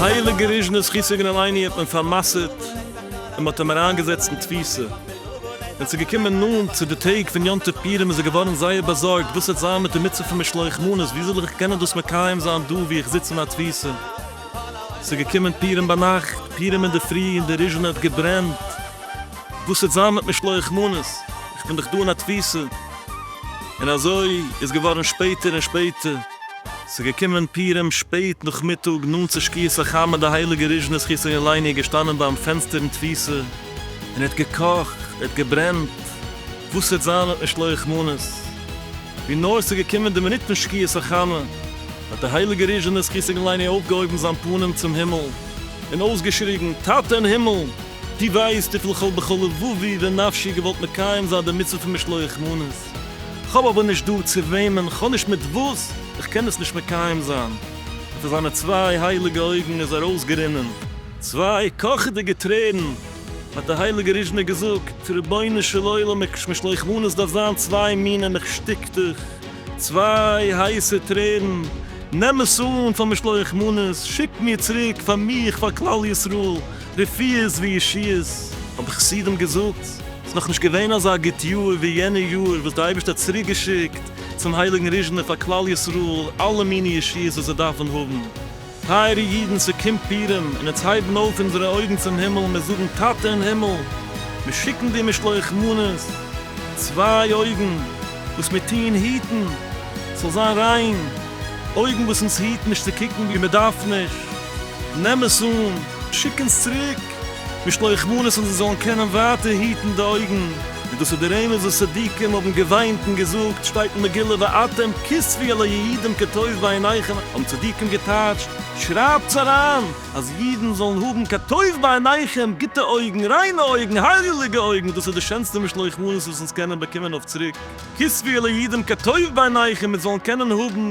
הייליגע ריזשנע זכותו יגן עלינו האט מען פאר'מסר'ט און מ'האט אים אריינגעזעצט אין תפיסה. ווען ס'איז געקומען נאנט צו די טעג פון יום טוב פורים איז ער געווארן זייער באזארגט וואס וועט זיין מיט די מצוה פון משלוח מנות, ווי זאל איך קענען דאס מקיים זיין דא וואו איך זיץ אין א תפיסה? ס'איז געקומען פּורים בײַ נאַכט, פּורים אין דער פֿרי, און די ריזשענע האָט געברענט. װאָס װעט זײַן מיט משלוח מנות? איך בין דאָך דאָ אין אַ תּפֿיסה. און אַזױ איז געװאָרן שפּעטער און שפּעטער. ס'איז געקומען פּורים שפּעט נאָכמיטאָג, נאָענט צו שקיעת-החמה, און די הײליקע ריזשענע, זכות-יום-עלינו, איז געשטאַנען בײַם פֿענצטער אין תּפֿיסה און האָט געקאָכט, האָט געברענט. װאָס װעט זײַן מיט משלוח מנות? װי נאָר ס'איז געקומען די מינוט פֿון שקיעת-החמה, האט דער הייליגער ריזשענער זכותו גן לעיני אויפגעהויבן זיין פנים צום הימל און אויסגעשריגן, טאטע אין הימל! דו ווייסט וויפיל כ'וואלט בכל לבבי ונפשי געוואלט מקיים זיין די מצוה פון משלוח מנות, כ'האב אבער נישט דא צו וועמען, כ'האב נישט מיט וואס, כ'קען עס נישט מקיים זיין. און פון זיינע צוויי הייליגע אויגן איז ארויסגערינען צוויי קאכעדיגע טרערן, האט דער הייליגער ריזשענער געזאגט, רבונו של עולם, משלוח מנות דארף זיין צוויי מינים, איך שטיק דיך. צוויי הייסע טרערן, נעם עס אן פאר משלוח מנות, שיק מיר צוריק פאר מיך, פאר כלל ישראל, רפואות וישועות. האבן די חסידים געזאגט, ס'איז נאך נישט געווען אזא גוט יאר ווי יענע יאר וואס דער אייבערשטער האט צוריק געשיקט צום הייליגן ריזשנער פאר כלל ישראל אלע מיני ישועות וואס זיי דארפן האבן, טייערע אידן ס'קומט פורים און אונז הייבן אויף אונזערע אויגן צום הימל מיר זאגן טאטע אין הימל מיר שיקן דיר משלוח מנות צוויי אויגן וואס מיר טוען היטן ס'זאל זיין ריין אויגן וואס אונז היטן נישט צו קוקן ווי מ'דארף נישט נעם עס אן שיק אונז צוריק משלוחמנות און זיי זאלן קענען ווייטער היטן די אויגן, און דאס איז דער אמת וואס צדיקים האבן געוויינט און געזאגט, שטייט אין מגילה ואתם כספי אל היעידים כי טוב בעיניכם, האבן צדיקים געטייטשט, שרייבטס אריין אז אידן זאלן האבן כי טוב בעיניכם, גוטע אויגן, ריינע אויגן, הייליגע אויגן, דאס איז די שענסטע משלוחמנות וואס אונז קענען באקומען אויף צוריק, כספי אל היעידים כי טוב בעיניכם, מיר זאלן קענען האבן.